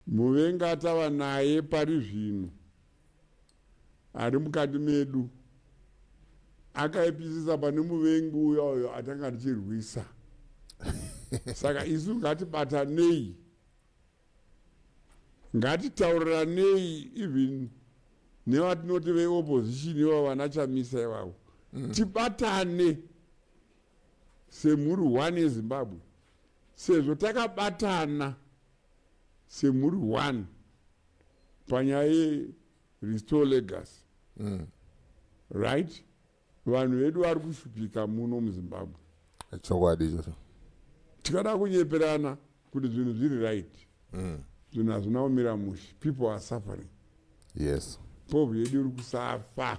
Muvengi atava naye pari zvino ari mukati medu akaipisisa pane muvengi uya uyo atanga tichirwisa saka isu ngatibatanei ngatitauriranei even nevatinoti veopposition iva vana chamisa ivavo mm. tibatane semhuri one yezimbabwe sezvo takabatana semuri one panyaya yerestore legacy mm. right vanhu vedu vari kushupika muno muzimbabwe chokwadi ichocho tikada kunyeperana kuti zvinhu zviri right mm. zvinhu mm. hazvina kumira mushe people are suffering yes povo yedu iri kusafa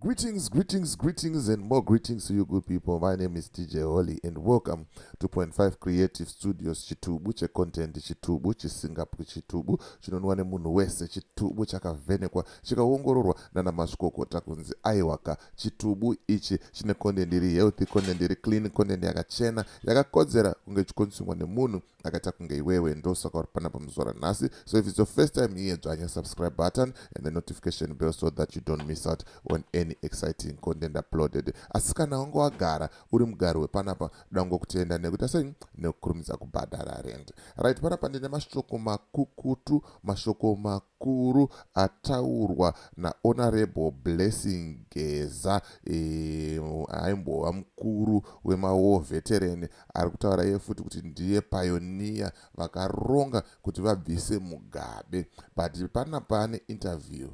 Greetings, greetings, greetings, and more greetings to you, good people. My name is DJ Holly, and welcome to Point Five Creative Studios. Chitubu checontent, chitubu chisingapwi, chitubu chinonwa nemunhu wese, chitubu chakavhenekwa, chikaongororwa nana mazvikokota kunzi aiwaka. Chitubu ichi chine content iri healthy, content iri clean, content yakachena, yakakodzera kunge ichikonsumwa nemunhu akaita kunge iwewe ndosaka uri panapa muzora nhasi so if it's your first time here dzvanya subscribe button and the notification bell so that you don't miss out on any exciting content uploaded asi kana wange wagara uri mugari wepanapa dango kutenda nekuita sei nekukurumidza kubhadhara rend right panapa ndine mashoko makukutu mashoko makuru ataurwa nahonorable blessing geza eh, aimbova mukuru wemawar veteran Ari kutaura iye futi kuti ndiye pioneer vakaronga kuti vabvise Mugabe but pana pane interview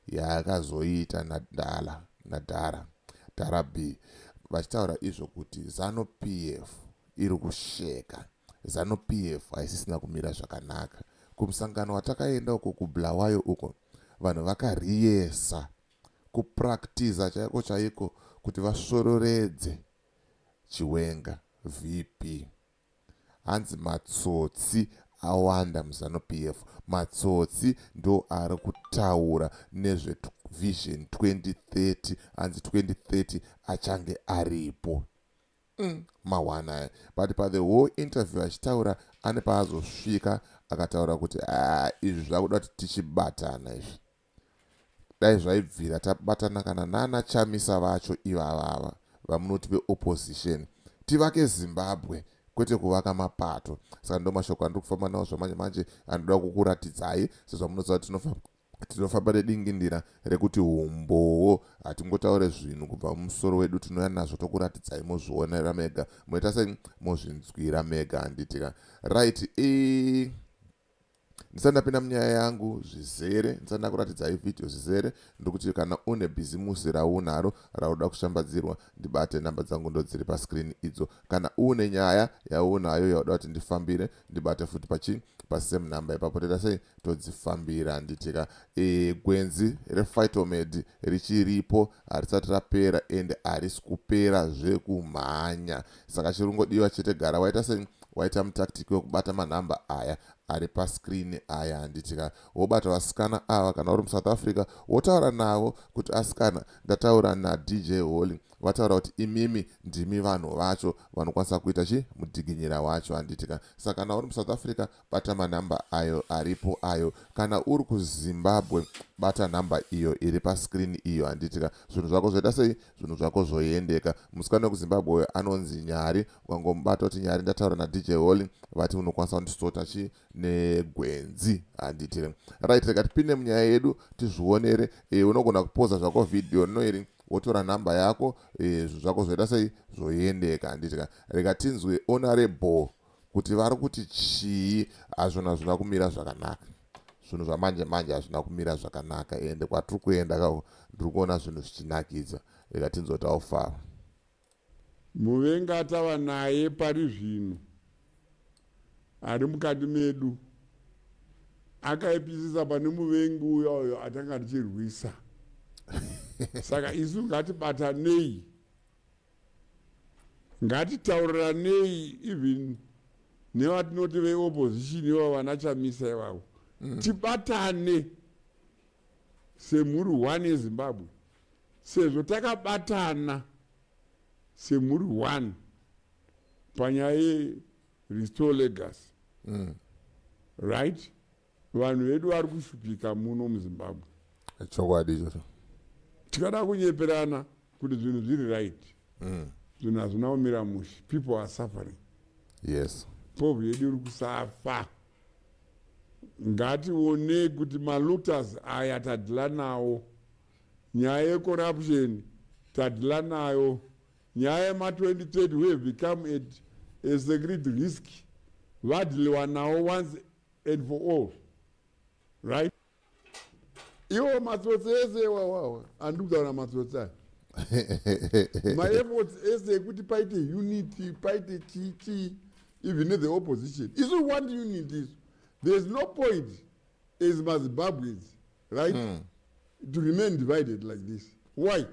yaakazoita naDala naDara Dara B vachitaura izvo kuti Zanu PF iri kusheka Zanu PF haisisina kumira zvakanaka kumusangano watakaenda uko kuBulawayo uko vanhu vakariyesa kupractiza chaiko chaiko kuti vasvororedze Chiwenga, VP, Hanzi matsotsi awanda muZanu PF. Matsotsi ndoari kutaura nezve Vision 2030 hanzi 2030 achange aripo. Mm, mahwana aya but pa the whole interview achitaura ane paazosvika akataura kuti haa izvi zvakuda kuti tichibatana izvi Dai zvaibvira tabatana kana nana Chamisa vacho ivava ava vamunoti ve opposition tivake Zimbabwe kwete kuvaka mapato. Saka ndomashoko andiri kufamba nawo zvamanje manje andoda kukuratidzai sezvamunoziva kuti tinofa tinofamba nedingindira rekuti humbowo hatingotaure zvinhu kubva mumusoro wedu tinouya nazvo tokuratidzai mozvionera mega moita sei mozvinzwira mega handiti ka right i ndisati ndapinda munyaya yangu zvizere ndisati ndakuratidzai vhidhiyo zvizere ndokuti kana une bhizimusi raunaro raunoda kushambadzirwa ndibate nhamba dzangu ndodziri paskrini idzo kana une nyaya yaunayo yauda kuti ndifambire ndibate futi pachii pasame number ipapo toita sei todzifambira handitika e, gwenzi refitomedi richiripo harisati rapera ende harisi kupera zvekumhanya saka chirungodiwa chete gara waita se waita mutactic wekubata manhamba aya ari pascreen aya handiti ka wobata vasikana ava kana uri musouth africa wotaura navo kuti asikana ndataura nadj holy vataura kuti imimi ndimi vanhu vacho vanokwanisa kuita chi mudiginyira wacho handiti ka saka kana uri musouth africa bata manhamba ayo aripo ayo kana uri kuzimbabwe bata nhamba iyo iri pascreen iyo handiti ka zvinhu zvako zvoita sei zvinhu zvako zvoendeka musikana wekuzimbabwe uyo anonzi nyari ukangomubata kuti nyari ndataura nadj holly vati unokwanisa kundisota chii negwenzi handiti re right rega tipinde munyaya yedu tizvionere e, unogona kupoza zvako vhidhiyo rino iri wotora nhamba yako e, zvako zvoita sei zvoendeka handiti ka rega tinzwe onare bhoo kuti vari kuti chii hazvona hazvina kumira zvakanaka zvinhu zvamanje manje hazvina kumira zvakanaka ende kwatiri kuenda ka ndiri kuona zvinhu zvichinakidza rega tinzotawo faro muvengi atava naye pari zvino ari mukati medu akaipisisa pane muvengi uya uyo atanga tichirwisa saka isu ngatibatanei ngatitauriranei even nevatinoti veopposition iva vana chamisa ivavo mm. tibatane semhuri one yezimbabwe sezvo takabatana semhuri one panyaya yerestore legacy mm. right vanhu vedu vari kushupika muno muzimbabwe chokwadi ichocho tikada kunyeperana kuti zvinhu zviri right mm. zvinhu hazvina kumira mushe people are suffering yes povhu yedu iri kusafa ngationei kuti malutas aya tadhila nawo nyaya yecorruption tadhila nayo nyaya yema2030 we have become at a secret risk vadhiliwa nawo once and for all right iwo matsotsi ese wawawa andikutaura matsotsi aya maefforts ese ekuti paite unity paite chii chii even the opposition isu want unity isu thereis no point as mazimbabweans right mm. to remain divided like this why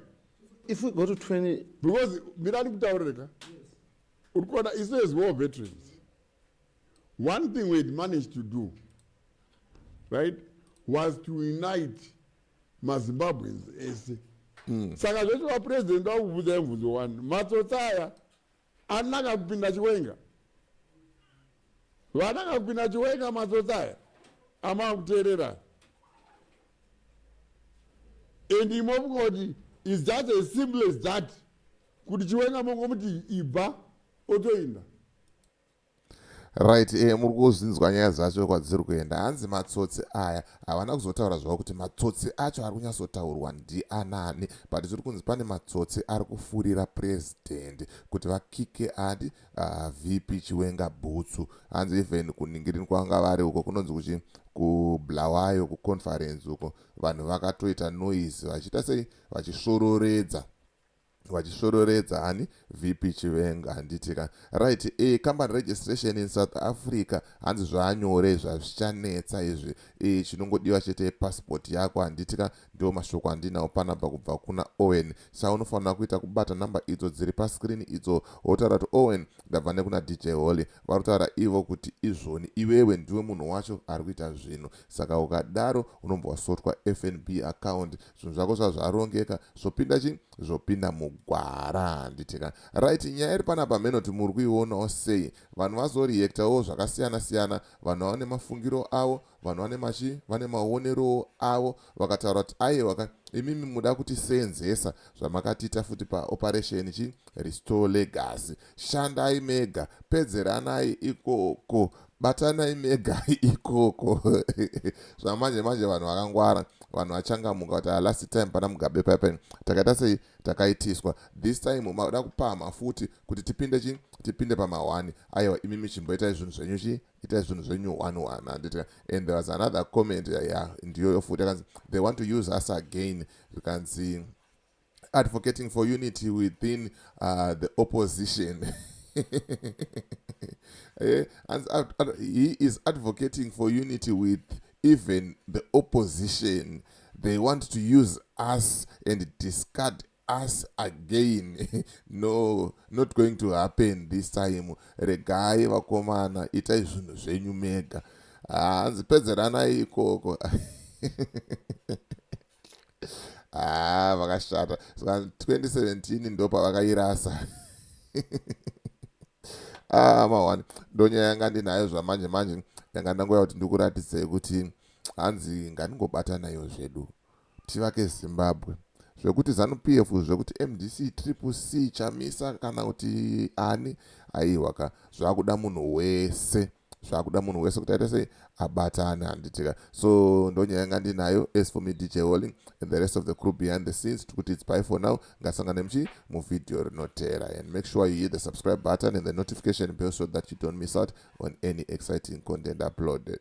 if we go to 20 because mirani kutaurira ka uri kuona isu as war veterans One thing we had managed to do, right, was to unite maZimbabweans ese. Mm. Saka zvese vapresident vakubvunza mubvunzo wani, matsotsi aya anaka kupinda chiwenga. Vanaka kupinda chiwenga matsotsi aya amava kuteerera. And imofunga kuti is just as simple as that. kuti chiwenga mongomuti ibva otoinda right eh, muri kuzvinzwa nyaya dzacho kwadziri kuenda hanzi matsotsi aya havana kuzotaura zvavo kuti matsotsi acho ari kunyatsotaurwa ndianani but tiri kunzi pane matsotsi ari kufurira purezidendi kuti vakike adi uh, ah, vp chiwenga bhutsu hanzi even kuningirini kwanga vari uko kunonzi kuchi kublawayo kuconference uko vanhu vakatoita noise vachiita sei vachisvororedza vachisvororedza ani vp chivenga handiti ka right e eh, company registration in south africa hanzi zvaanyore zvazvichanetsa izvi e chinongodiwa chete yepassport yako handiti ka ndiwo mashoko andinawo panabva kubva kuna owen sa unofanira kuita kubata number idzo dziri pascreen idzo wotaura kuti owen ndabva nekuna dj holy varotaura ivo kuti izvoni iwewe ndiwe munhu wacho ari kuita zvinhu saka ukadaro unombowasotwa fnb account zvinhu zvako zvazvarongeka zvopinda chi zvopinda mugwara handiti ka right nyaya iri panapa menoti muri kuionawo sei vanhu vazoreactawo zvakasiyana siyana vanhu vane mafungiro avo vanhu vane machi vane maonerowo avo vakataura kuti aiwa ka imimi muda kuti senzesa zvamakatiita futi paoperation chi restore legacy shandai mega pedzeranai ikoko batanai mega ikoko zvamanje manje vanhu vakangwara vanhu vachangamuka kuti ah, last time pana mugabe papen takaita sei takaitiswa this time maoda kupama futi kuti tipinde chi tipinde pamahwani aiwa imi michimbo itai zvinhu zvenyu chi itai zvinhu zvenyu one one handiti and there was another comment ya yeah, ndiyoyo futi akanzi they want to use us again zvikanzi advocating for unity within uh, the opposition eh, he is advocating for unity with even the opposition they want to use us and discard us again no not going to happen this time regai vakomana itai zvinhu zvenyu mega hanzi ah, pedzeranai ikoko haa ah, vakashata ska 2017 ndopavakairasa ah, mawani ndonyaya yanga ndinayo zvamanje manje yanga ndangoya kuti ndikuratidzei kuti hanzi ngandingobata nayo zvedu tivake zimbabwe zvekuti zanup f zvekuti mdc triple c chamisa kana kuti ani aiwaka zvakuda munhu wese zvakuda munhu wese kuti aita sei abatane handitika so ndonyaya yanga ndinayo as for me dj walling and the rest of the crew behind the scenes tiri kuti its by for now ngasangane muchii muvhidhiyo rinoteera and make sure you hit the subscribe button and the notification bell so that you don't miss out on any exciting content uploaded